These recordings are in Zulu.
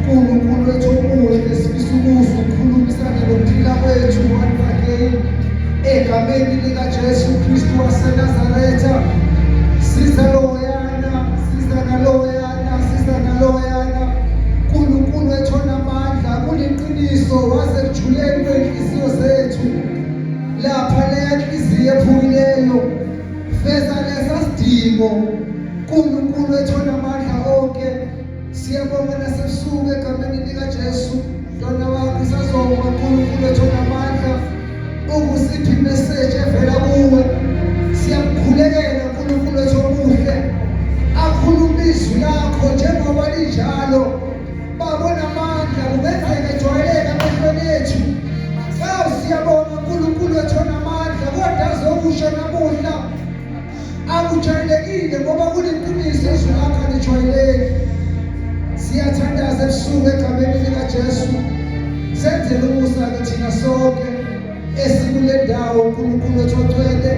Nkulunkulu wethu omuhle sifisa ukuzwa ukhulumisane nokuphila kwethu one again egameni likaJesu Kristu waseNazaretha siza loyana siza naloyana siza naloyana Nkulunkulu wethu onamandla kuliqiniso waze kujuleni kwenhliziyo zethu lapha leya nhliziyo ephukileyo feza lesa sidingo Nkulunkulu wethu onamandla Siyabonga nasebusuku egameni likaJesu. Mntwana wakho isazonga uNkulunkulu ethola amandla ukusipha imeseji evela kuwe. Siyakukhulekela uNkulunkulu ethu omuhle. Akhuluma izwi lakho njengoba linjalo. Babona amandla kungenzeka ejwayeleke amehlweni ethu. Sawu siyabonga uNkulunkulu ethola amandla kodwa azokusho namuhla. Akujwayelekile ngoba kuliqiniso izwi lakho alijwayeleki. Siyathandaza ebusuku egameni likaJesu. Senzele umusa ke thina sonke esikule ndawo uNkulunkulu wethu ocwele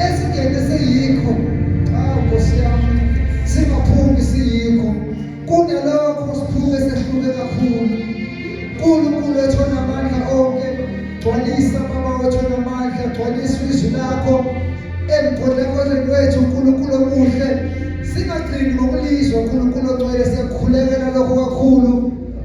esingene siyikho. Awu Nkosi yami singaphumi siyikho. Kunalokho siphuke sehluke kakhulu. Nkulunkulu wethu onamandla onke, gcwalisa Baba wethu onamandla, gcwalisa izwi lakho emkhonekweni wethu Nkulunkulu omuhle. Singagcini ngokulizwa Nkulunkulu ogcwele siyakukhulekela lokho kakhulu.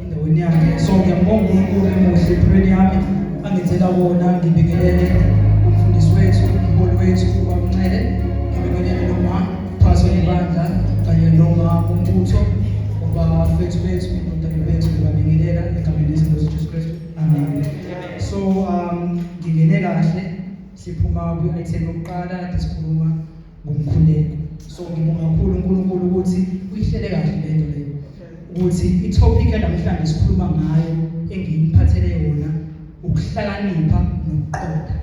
endaweni yakhe so ngiyambonga uNkulunkulu emuhle empilweni yami angithela wona ngibingelele umfundisi wethu umholi wethu ubamncele ngibingelele noma phaso ibandla kanye noma umbutho ubafethu bethu indodana bethu ngibabingelela egameni lezinkosi Jesu Kristu amen so um ngingene kahle siphuma kwi-item yokuqala sikhuluma ngomkhuleko so ngibonga kakhulu uNkulunkulu ukuthi uyihlele kahle lento leyo ukuthi itopic yanamhlanje sikhuluma ngayo engiyiphathele yona ukuhlakanipha nokuqonda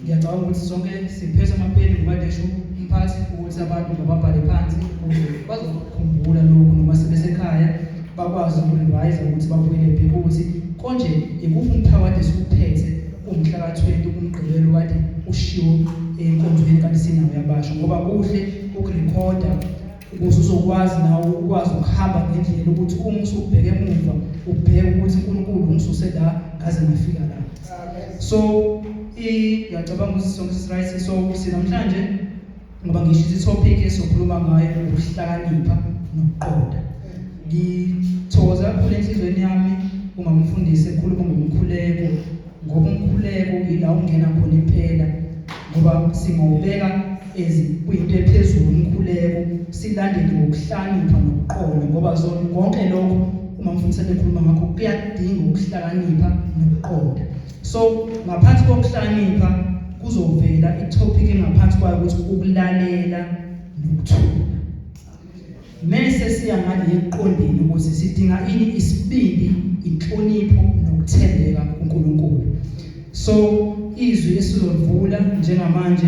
ngiyacabanga ukuthi sonke siphethe amapeni ngoba ngisho umphathi ukuthi abantu mababhale phansi ukuze bazokukhumbula lokhu noma sebesekhaya bakwazi ukurevise ukuthi babuyele bheke ukuthi konje ikuphi umphakathi esiwuphethe umhla ka-20 kumgqibelo kade ushiwo enkonzweni kanti sinawo yabasho ngoba kuhle ukurekhoda ukuze uzokwazi nawe ukwazi ukuhamba ngendlela ukuthi uma usubheke emuva ubheke ukuthi uNkulunkulu ungisuse la ngaze ngafika la so i ngiyacabanga ukuthi sonke sirayisi so sinamhlanje ngoba ngisho isithopic esokhuluma ngayo ukuhlakanipha nokuqonda ngithokoza kakhulu enhliziyweni yami uma ngifundise ekhuluma ngomkhuleko ngoba umkhuleko ila ungena khona impela ngoba singawubeka kuyinto ephezulu umkhuleko silandele ngokuhlakanipha nokuqonda ngoba konke lokho uma mfundisi ebekhuluma ngakho kuyadinga ukuhlakanipha nokuqonda So ngaphansi kokuhlakanipha kuzovela itopic engaphansi kwayo ukuthi ukulalela nokuthula. Mese siya ngale eqondeni ukuthi sidinga ini isibindi, inhlonipho nokuthembeka kuNkulunkulu. So izwi esizolivula njengamanje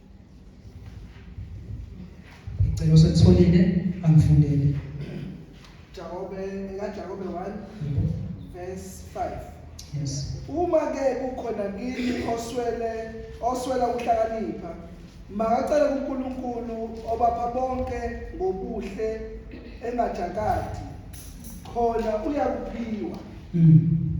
Ngicela usethulile angifundele. Jakobe ekaJakobe 1 verse 5. Yes. Uma ke kukhona kini oswele oswela ukuhlakanipha makacele kuNkulunkulu obapha bonke ngobuhle engajakati khona uyakuphiwa. Mm.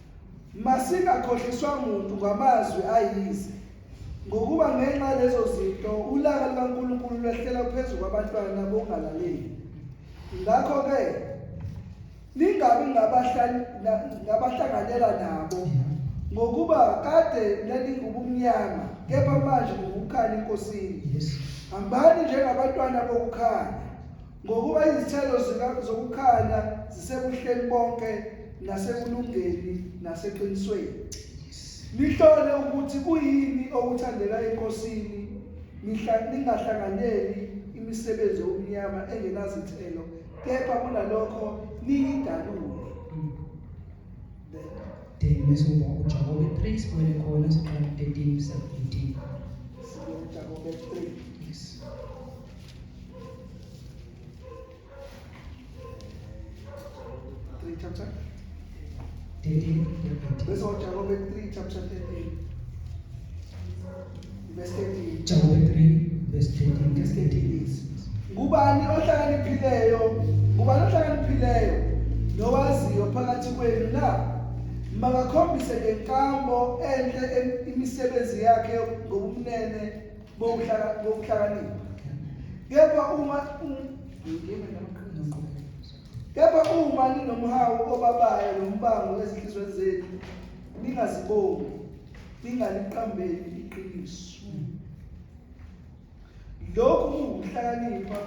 Masingakhohliswa muntu ngamazwi ayize, ngokuba ngenxa lezo zinto ulaka lukaNkulunkulu lwehlela phezu kwabantwana bokungalaleli. Ngakho-ke ningabi ngabahlanganyela nabo, ngokuba kade nalingubumnyama, kepha manje ningukukhanya eNkosini. Hambani njengabantwana bokukhanya. Ngokuba izithelo zokukhanya zisebuhleni bonke nasekulungeni naseqinisweni. Nihlole ukuthi kuyini okuthandela enkosini ningahlanganyeli imisebenzi yobumnyama engenazithelo kepha kunalokho niyidalule. Then bese uba uJakobe 3 sibuyele khona siqala 13 17. Sibuye uJakobe 3. Yes. ngubani ohlakaniphileyo ngubani ohlakaniphileyo nowaziyo phakathi kwenu na makakhombise ngenkambo enhle imisebenzi yakhe ngobumnene bokuhlakanipha kepha uma kepha uma ninomhawu obabayo nombango ezinhlizweni zenu ningazibongi ningaliqambeli iqiniso lokhu kungukuhlakanipha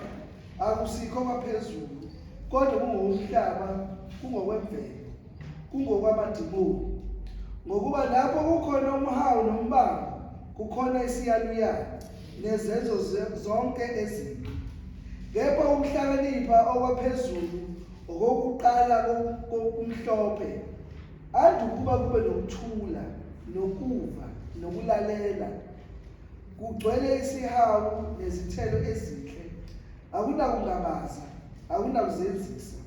akusikho kwaphezulu kodwa kungowomhlaba kungokwemvelo kungokwamadimoni ngokuba lapho kukhona umhawu nombango kukhona isiyaluyalu nezenzo zonke ezimbi kepha ukuhlakanipha okwaphezulu okokuqala kokumhlophe ade ukuba kube nokuthula nokuva nokulalela kugcwele isihawu nezithelo ezinhle akunakungabaza akunakuzenzisa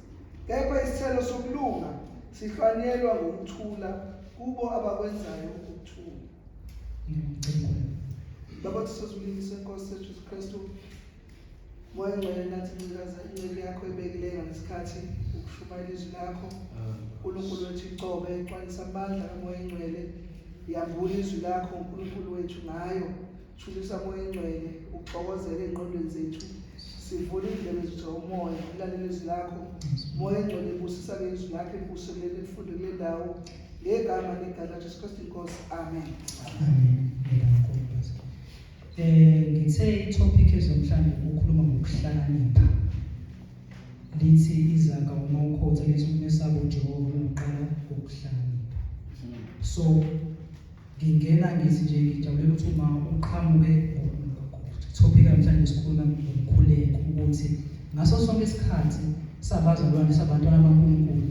Kepha isithelo sokulunga sihlwanyelwa ngokuthula kubo abakwenzayo ukuthula. Ngimcingweni. Baba sisozulini senkosi sethu Jesu Kristu. Moya ngcwele nathi ncikaza incele yakho ebekileyo ngesikhathi ukushumayela izwi lakho. uNkulunkulu wethu icobe iqwanisa amandla kamoya ngcwele. Yambula izwi lakho uNkulunkulu wethu ngayo. Thulisa moya engcwele uxokozele engqondweni zethu sivule indlebe zethu umoya ulalele izwi lakho moya engcwele ibusisa ke izwi lakho ibuso kuleli lifunde kule ndawo ngegama legala jesu kristu inkosi amen um ngithe itopic ezomhlawumbe ukukhuluma ngokuhlakanipha lithi izaka uma ukhotha lithi umesaba ujehova uqala ngokuhlakanipha so Ngingena ngithi nje ngijabule ukuthi uma uqhamuke topic namhlanje sikhuluma ngokukhuleka ukuthi ngaso sonke isikhathi sabazalwane sabantwana baNkulunkulu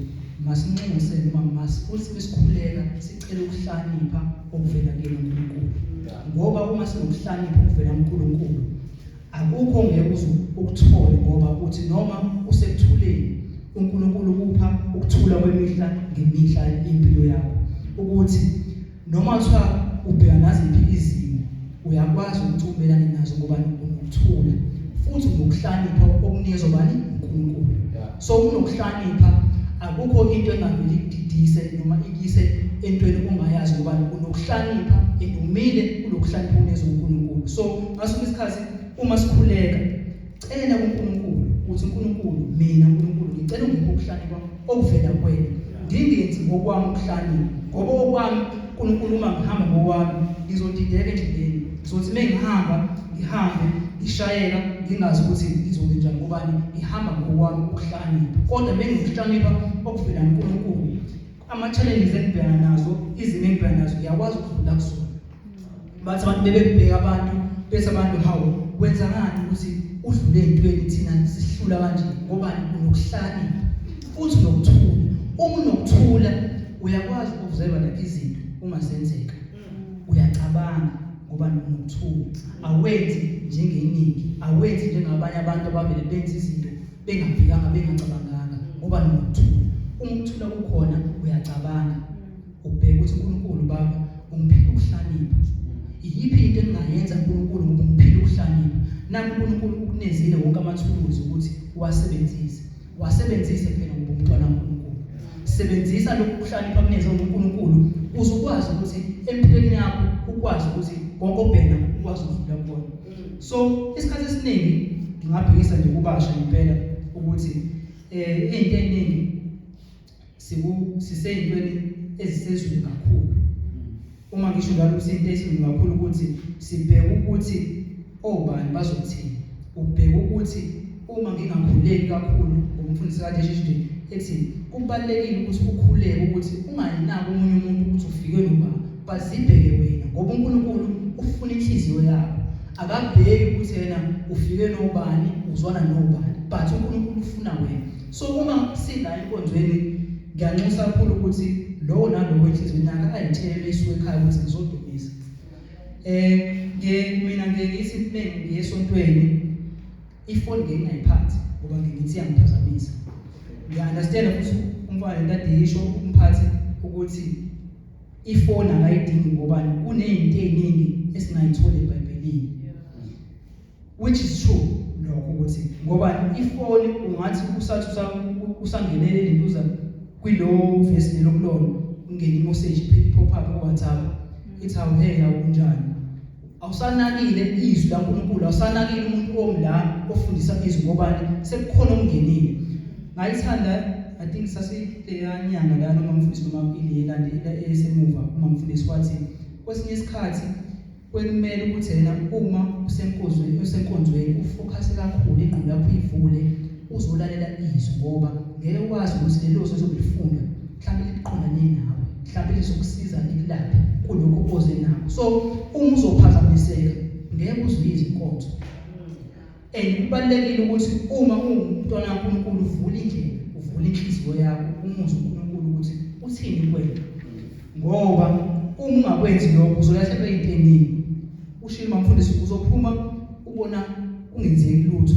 masinxuse noma masifuthi besikhuleka sicela ukuhlonipha okuvela kuNkulunkulu ngoba uma sinokuhlonipha okuvela kuNkulunkulu Akukho ongeke uze ukuthole ngoba uthi noma usekuthuleni uNkulunkulu ukupha ukuthula kwemihla ngemihla impilo yakho ukuthi noma kuthiwa ubheka naziphi izimo uyakwazi ukuthi ubelane nazo ngoba unokuthula futhi unokuhlakanipha okunikezwa bani uNkulunkulu so unokuhlakanipha akukho into engaveli ididise noma ikise entweni ongayazi ngoba unokuhlakanipha and umile kulokuhlakanipha unezwe uNkulunkulu so Ngaso isikhathi uma sikhuleka cela kuNkulunkulu ukuthi uNkulunkulu mina uNkulunkulu ngicela ungiphe ukuhlanya kwami okuvela kuwena ngingenzi ngokwami ukuhlanya ngoba okwami uNkulunkulu uma ngihamba ngokwami ngizodideka endleleni ngizothi uma ngihamba ngihambe ngishayela ngingazi ukuthi ngizokwenza njani ngoba ngihamba ngokwami ukuhlanya kodwa bengizokuhlanyela okuvela kuNkulunkulu ama-challenges engibhekana nazo izimo engibhekana nazo ngiyakwazi ukudlula kuzona bathi abantu bebebheka abantu bese abantu hawu wenza ngani ukuthi udlule entweni thina sihlula kanje ngoba unokuhlakanipha futhi unokuthula uma unokuthula uyakwazi ukuzelwa lapha izinto uma zenzeka mm. uyacabanga ngoba nokuthula awenzi njengeningi awenzi njengabanye abantu abavele benza izinto bengabhekanga bengacabanganga ngoba nokuthula uma ukuthula kukhona uyacabanga Ubheke ukuthi uNkulunkulu baba ungiphile ukuhlakanipha. Iyiphi into engingayenza uNkulunkulu ngoba ungiphile ukuhlakanipha? Nangu uNkulunkulu ukunezile wonke amathuluzi ukuthi uwasebenzise. Wasebenzise phela ngoba umntwana kaNkulunkulu. Sebenzisa lokhu kuhlakanipha kuneze uNkulunkulu uzokwazi ukuthi empilweni yakho ukwazi ukuthi konke obheka ukwazi ukudlula kubona. So isikhathi esiningi ngingabhekisa nje kubasha impela ukuthi eh into eningi siku siseyintweni ezisezulu kakhulu uma ngisho njalo kuseyinto ezulu kakhulu ukuthi sibheke ukuthi obani bazothini ubheke ukuthi uma ngingakhuleki kakhulu ngomfundisi kade shishinde ethi kubalekile ukuthi ukhuleke ukuthi ungayinaki umunye umuntu ukuthi ufike noma bazibheke wena ngoba uNkulunkulu ufuna inhliziyo yakho akabheki ukuthi yena ufike nobani uzwana nobani but uNkulunkulu ufuna wena so uma sila enkonzweni ngiyanxusa kakhulu ukuthi lowo nalowo enhliziyweni yakhe ayithele isuke ekhaya ukuthi ngizodumisa eh ngiye mina ngiye ngithi mina ngiye esontweni ifoni ngingayiphathi ngoba ngithi yangiphazamisa ngiya understand ukuthi umfana ntate yisho umphathi ukuthi ifoni akayidingi ngobani kunezinto eziningi esingayitholi ebhayibhelini which is true lokho ukuthi ngoba ifoni ungathi usathi usangenele lentuza kwilowo vesi lelokulona ungene i-message pop up ku-whatsapp mm. ithi awuheya kunjani awusanakile izwi laNkulunkulu awusanakile umuntu omla ofundisa izwi ngobani sekukhona okungenile ngayithanda i think sasiyanyanga la noma mfundisi noma ile elandela esemuva uma mfundisi wathi kwesinye isikhathi Kwekumele ukuthi yena uma usenkonzweni usenkonzweni ufokhase kakhulu ingqondo yakho uyivule uzolalela izwi ngoba ngeke ukwazi ukuthi lelo zwi ozobe ulifunda mhlawumbe liqondane nawe mhlawumbe lizokusiza likulaphe kulokho oze nako so uma uzophazamiseka ngeke uzwe izinkonzo And kubalulekile ukuthi uma ungumntwana kaNkulunkulu uvule indlela, uvule inhliziyo yakho, umuzwe uNkulunkulu ukuthi uthini kwena. Ngoba uma ungakwenzi lokho uzolahlekelwa into eningi. Ushilo mamfundisi uzophuma ubona kungenzeki lutho.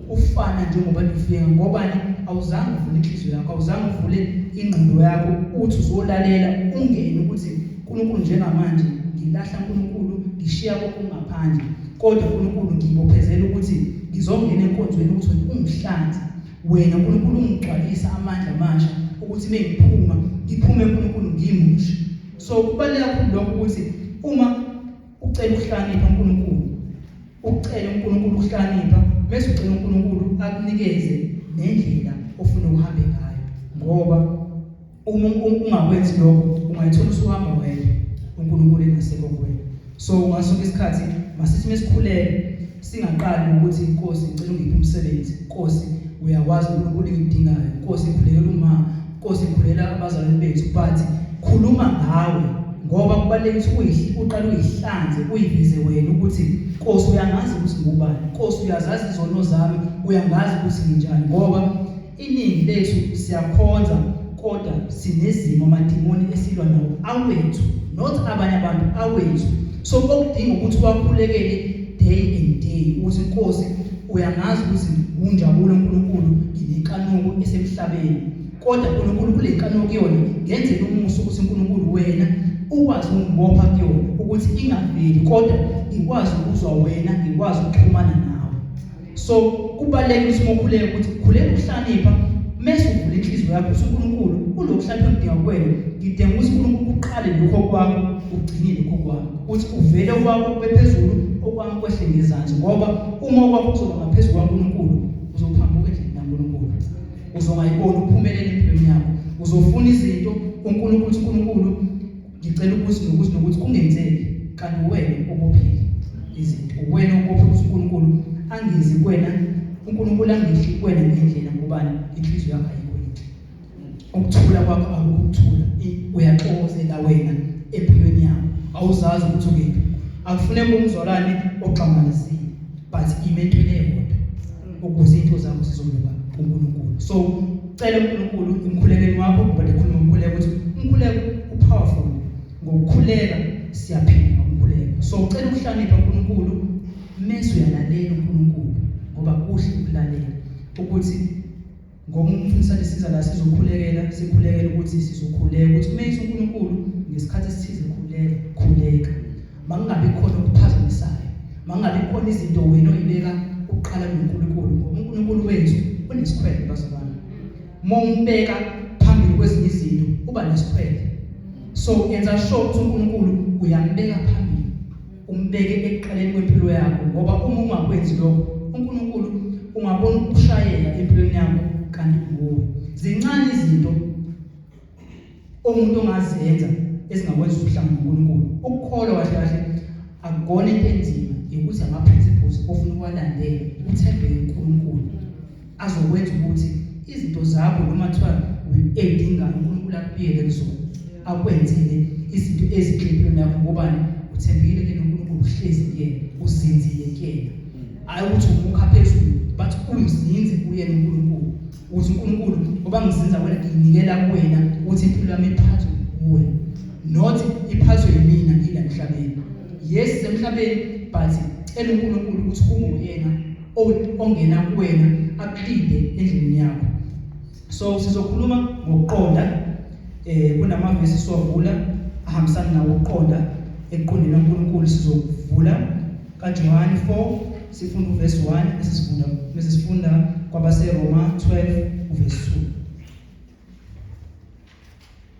Ufana njengoba ufika ngobani awuzange uvule inhliziyo yakho, awuzange uvule ingqondo yakho uthi uzolalela ungene ukuthi uNkulunkulu njengamanje ngilahla uNkulunkulu ngishiya konke ngaphandle. Kodwa uNkulunkulu ngibophezela ukuthi ngizongena enkonzweni ukuthi wena ungihlanze. Wena uNkulunkulu ungigcwalisa amandla amasha ukuthi mengiphuma ngiphume uNkulunkulu ngimushe. So kubaleka kakhulu lokho ukuthi uma ucela ukuhlanipha uNkulunkulu, ucela uNkulunkulu ukuhlanipha bese ucela uNkulunkulu akunikeze nendlela ofuna ukuhambe ngayo ngoba uma ungakwenzi lokho ungayithola usuhamba wedwa uNkulunkulu engasekho kuwena so ngasonke isikhathi masithi mesikhuleke singaqali ukuthi inkosi ngicela ungiphe umsebenzi inkosi uyakwazi uNkulunkulu engidingayo inkosi ngikhulekela uma inkosi ngikhulela abazalwane bethu but khuluma ngawe ngoba kubalulekile ukuthi uqale uyihlanze uyiveze wena ukuthi inkosi uyangazi ukuthi ngubani inkosi uyazazi izono zami uyangazi ukuthi nginjani ngoba Iningi lethu siyakhonza kodwa sinezimo amadimoni esilwa nawo awethu not abanye abantu awethu so okudinga ukuthi wakhulekele day and day ukuthi inkosi uyangazi ukuthi unjabulo uNkulunkulu nginenkanuko esemhlabeni kodwa uNkulunkulu kule nkanuko kuyona ngenzela umusa ukuthi uNkulunkulu wena ukwazi ukungibopha kuyona ukuthi ingaveli kodwa ngikwazi ukuzwa wena ngikwazi ukuxhumana nawe so kubalulekile ukuthi mokhuleke ukuthi khuleka ukuhlanipha mese uvula inhliziyo yakho ukuthi uNkulunkulu kunokuhlanipha ngidinga kuwena ngidinga ukuthi uNkulunkulu uqale lokho kwakho ugcine lokho kwakho uthi uvele kwakho kube phezulu okwami kwehle ngezansi ngoba uma okwakho kuzoba ngaphezu kwaNkulunkulu uzophambuka endlini kaNkulunkulu uzongayiboni uphumelele empilweni yakho uzofuna izinto uNkulunkulu uNkulunkulu Ngicela ukuthi nokuthi nokuthi kungenzeki kanti uwena obophile izinto. Uwena obophe ukuthi uNkulunkulu angezi kuwena, uNkulunkulu angehli kuwena ngendlela ngobani inhliziyo yakho ayikho yinhle. Ukuthula kwakho akukuthula. Uyaxokozela wena empilweni yakho. Awuzazi ukuthi ukephi. Akufuneki umzalwane ogxamalazile but ime entweni eyodwa. ukuze into zakho zizolunga kuNkulunkulu so cela uNkulunkulu emkhulekeni wakho ngoba ndikhuluma umkhuleko ukuthi umkhuleko upowerful ngokukhuleka siyaphila ngokukhuleka so cela ukuhlonipha uNkulunkulu mese uyalalela uNkulunkulu ngoba kuhle ukulalela ukuthi Ngoba umfundisi sanisiza la sizokhulekela sikhulekela ukuthi sizokhuleka ukuthi kumeyisa uNkulunkulu ngesikhathi esithize khuleka khuleka makungabi khona okuphazamisayo makungabi khona izinto wena oyibeka uqala noNkulunkulu ngoba uNkulunkulu wethu unesikhwele bazalwane uma umbeka phambili kwezinye izinto uba nesikhwele so yenza sure ukuthi uNkulunkulu uyambeka phambili umbeke ekuqaleni kwempilo yakho ngoba uma ungakwenzi lokho uNkulunkulu ungabona ukushayela empilweni yakho kanti nguwe zincane izinto umuntu ongazenza ezingakwenza uhlanga uNkulunkulu ukukholwa kahle kahle akukona into enzima ukuthi ama-principles ofuna ukuwalandela uthembele uNkulunkulu azokwenza ukuthi izinto zakho noma kuthiwa uyedingayo uNkulunkulu akubiyele kuzona akwenzele izinto eziqinile nakho ngobani uthembile ke noNkulunkulu uhlezi kuyena uzinzile kuyena hayi ukuthi umukha phezulu but uyizinze kuyena uNkulunkulu ukuthi uNkulunkulu ngoba ngizinza wena nginikela kuwena ukuthi impilo yami iphathwe kuwe not iphathwe yimina ngila emhlabeni yes emhlabeni but cela uNkulunkulu ukuthi kunguyena o- ongena kuwena aklide endlini yakho so sizokhuluma ngokuqonda eh kunamavesi siwavula ahambisana nawo ukuqonda ekuqondeni uNkulunkulu sizovula kaJohane 4 sifunda uvesi 1 esisifunda bese sifunda kwabaseRoma 12 uvesi 2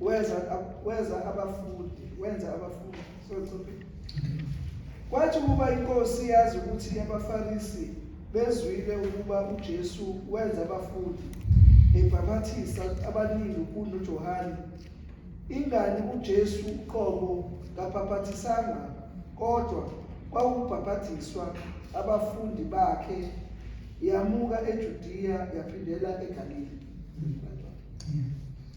Weza weza abafundi, wenza abafundi. So chophi. Kwathi ukuba inkosi yazi ukuthi abaFarisi bezwile ukuba uJesu wenza abafundi ebhaphathisa abaningi kuno Johane. Ingani uJesu uqobo kabhaphathisanga kodwa kwawubhaphathiswa abafundi bakhe yamuka eJudiya yaphindela eGalile.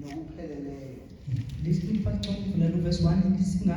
nokupheleleyo. Listen first chapter verse 1 ithi singa